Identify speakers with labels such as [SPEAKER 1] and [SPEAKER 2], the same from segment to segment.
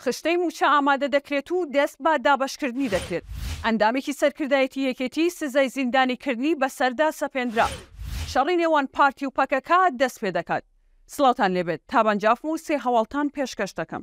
[SPEAKER 1] خشتەی مووچە ئامادە دەکرێت و دەست بە دابەشکردنی دەکرێت، ئەندامێکی سەرکردایەتی یەکێتی سزای زیندانی کردنی بەسەردا سەپێندرا، شەڕی نێوان پارتی و پەکەکە دەست پێ دەکات. سڵاوتان لێ بێت، تابان جافم و سێ هەواڵتان پێشکەش دەکەم.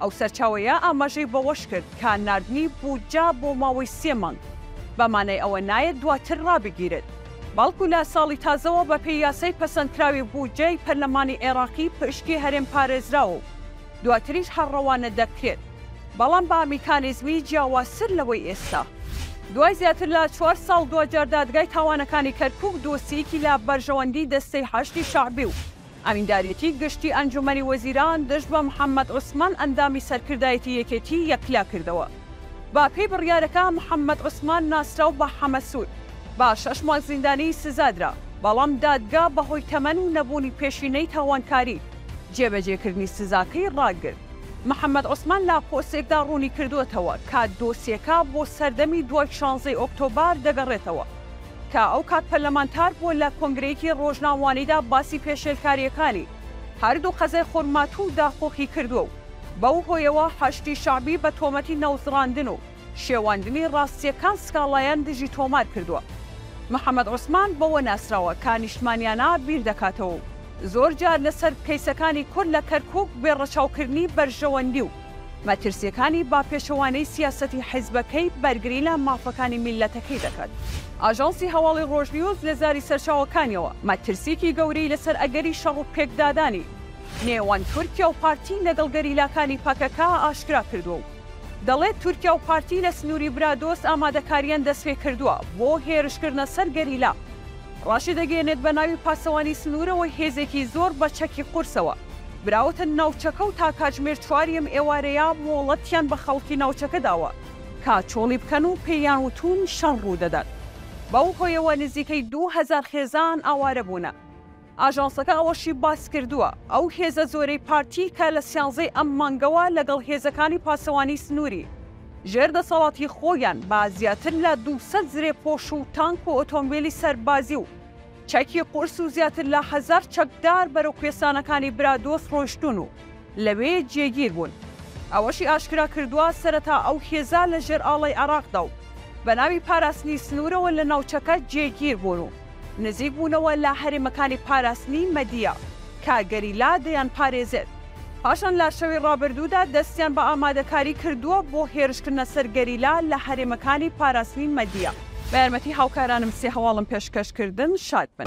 [SPEAKER 1] ئەو سەرچاوەیە ئاماژەی بەوەشکرد کە ناردنی بودجە بۆ ماوەی سێ مانگ بە مانای ئەوە نایەت دواتر رابگیرێت، بەڵکو لە ساڵی تازەوە بەپێی یاسای پەسەندکراوی بودجەی پەرلەمانی عێراقی پشکی هەرێم پارێزراوە و دواتریش هەر رەوانە دەکرێت، بەڵام بە میکانیزمی جیاوازتر لەوەی ئێستا. دوای زیاتر لە چوار ساڵ دواجار دادگای تاوانەکانی کەرکوک دۆسیەیەکی لە بەرژەوەندی دەستەی حەشدی شەعبی و ئەمینداریەتی گشتی ئەنجومەنی وەزیران دژ بە محەمەد عوسمان ئەندامی سەرکردایەتی یەکێتی یەکلا کردەوە. بە پێی بڕیارەکە محەمەد عوسمان ناسراو بە حەمە سوور بە شەش مانگ زیندانی سزادرا، بەڵام دادگا بەهۆی تەمەن و نەبوونی پێشینەی تاوانکاری، جێبەجێکردنی سزاکەی ڕاگرت. محەمەد عوسمان لە پۆستێکدا ڕوونیکردووەتەوە کە دۆسیەکە بۆ سەردەمی دوای شانزەی ئۆکتۆبەر دەگەڕێتەوە. کە ئەو کات پەرلەمانتار بووە لە کۆنگرەیەکی ڕۆژناموانیدا باسی پێشێلکارییەکانی هەردوو قەزای خورماتوو و داقووقی کردووە و بەو هۆیەوە حەشدی شەعبی بە تۆمەتی نەوزڕاندن و شێواندنی ڕاستییەکان سکاڵایان دژی تۆمار کردووە. محەمەد عوسمان بەوە ناسراوە کە نیشتمانیانە بیر دەکاتەوە و زۆر جار لەسەر کەیسەکانی کورد لە کەرکووک بێ ڕەچاوکردنی بەرژەوەندی و مەترسییەکانی بە پێچەوانەی سیاسەتی حیزبەکەی بەرگری لە مافەکانی میللەتەکەی دەکات. ئاژانسی هەواڵی ڕۆژنیوز لە زاری سەرچاوەکانیەوە مەترسییەکی گەورەی لەسەر ئەگەری شەڕ و پێکدادانی نێوان تورکیا و پارتی لەگەڵ گەریلاکانی پەکەکە ئاشکرا کردووە و دەڵێت تورکیا و پارتی لە سنووری برادۆست ئامادەکارییان دەستپێکردووە بۆ هێرشکردنە سەر گەریلا ڕاشیدەگەیەنێت بە ناوی پاسەوانی سنوورەوە هێزێکی زۆر بە چەکی قورسەوە براوەتە ناوچەکە و تا کاتژمێر چوار یەم ئێوارەیە مۆڵەتیان بە خەڵکی ناوچەکە داوە کە چۆڵی بکەن و پێیان وتوون شەڕ ڕوودەدات، بەو هۆیەوە نزیکەی دوو هەزار خێزان ئاوارە بوونە. ئاژانسەکە ئەوەشی باسکردووە، ئەو هێزە زۆرەی پارتی کە لە سیانزەی ئەم مانگەوە لەگەڵ هێزەکانی پاسەوانی سنووری ژێر دەسەڵاتی خۆیان بە زیاتر لە دوو سەد زرێپۆش و تانک و ئۆتۆمبێلی سەربازی و چەکی قورس و زیاتر لە هەزار چەکدار بەرەو کوێستانەکانی برادۆست ڕۆیشتوون و لەوێ جێگیر بوون. ئەوەشی ئاشکرا کردووە، سەرەتا ئەو هێزە لە ژێر ئاڵای عێراقدا و بە ناوی پاراستنی سنوورەوە لە ناوچەکە جێگیر بوون و نزیک بوونەوە لە هەرێمەکانی پاراستنی مەدیە کە گەریلا دەیانپارێزێت. پاشان لە شەوی ڕابردوودا دەستیان بە ئامادەکاری کردووە بۆ هێرشکردنە سەر گەریلا لە هەرێمەکانی پاراستنی مەدیە. بە یارمەتی هاوکارانم سێ هەواڵم پێشکەش کردن. شاد بن.